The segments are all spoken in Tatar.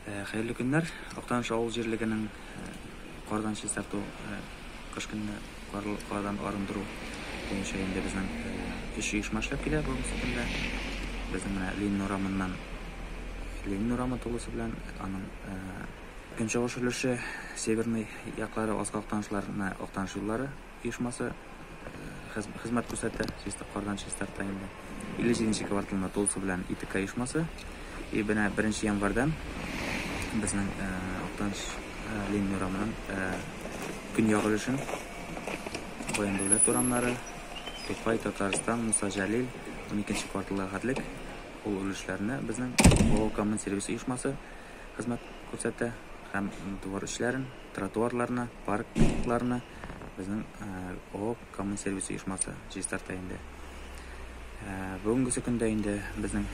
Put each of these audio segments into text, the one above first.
Хәерле көннәр! Актаныш авыл җирлегенең кардан чистарту, кыш көнне кардан арындыру буенча инде безнең өч оешма эшләп килә бүгенге көндә. Безнең менә Ленин урамыннан Ленин урамы тулысы белән аның көнчыгыш өлеше, северный яклары Аска Актанышларына Актаныш юллары, оешмасы хезмәт күрсәтә, Чистаклардан Чистарта инде. 57 нче кварталында тулысы белән ИТК оешмасы. И менә 1 нче январьдан безнең Актаныш Ленин урамының көньяк өлешен Баян Дәүләт урамнары, Тукай, Татарстан, Муса Җәлил, 12 нче кварталга хәтлек ул өлешләрне безнең Бавыл коммун сервис оешмасы хезмәт күрсәтә һәм двор эчләрен, тротуарларны, паркларны, Безнең ООО Коммунсервис оешмасы чистарта инде. Бүгенгесе көндә инде безнең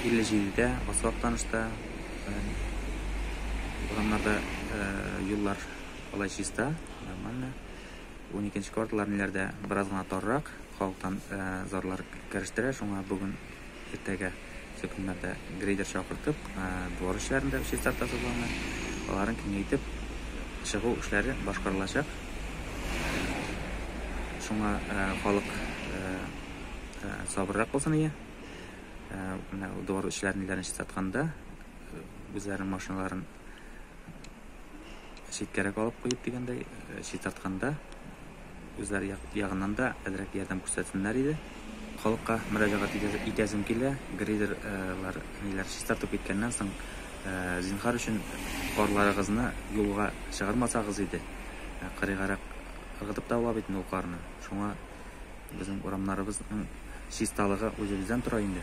57 дә асфальт танышта, урамнарда юллар алай чиста, нормально. 12 кварталлар ниләрдә бераз гына таррак, халыктан зарлар керештерә, шуңа бүген Иртәгә шул көннәрдә грейдер чакыртып, двор эшләрен дә чистарта планы. Аларын киңәйтеп чыгу эшләре башкарылачак. Шуңа халык сабыррак булсын ие. Менә двор эшләрен ниләрен чистартканда үзләренең машиналарын читкәрәк алып куеп дигәндәй чистартканда Үзләре як, ягыннан да әзрәк ярдәм күрсәтсеннәр иде. Халыкка мөрәҗәгать итәсем килә, грейдер, э, лар, ниләр, чистартып киткәннән соң, э, зинхар өчен карларыгызны юлга чыгармасагыз иде. Э, кырыйгарак ыргытып та ала бит инде ул карны. Шуңа безнең урамнарыбызның чисталыгы үзебездән тора инде.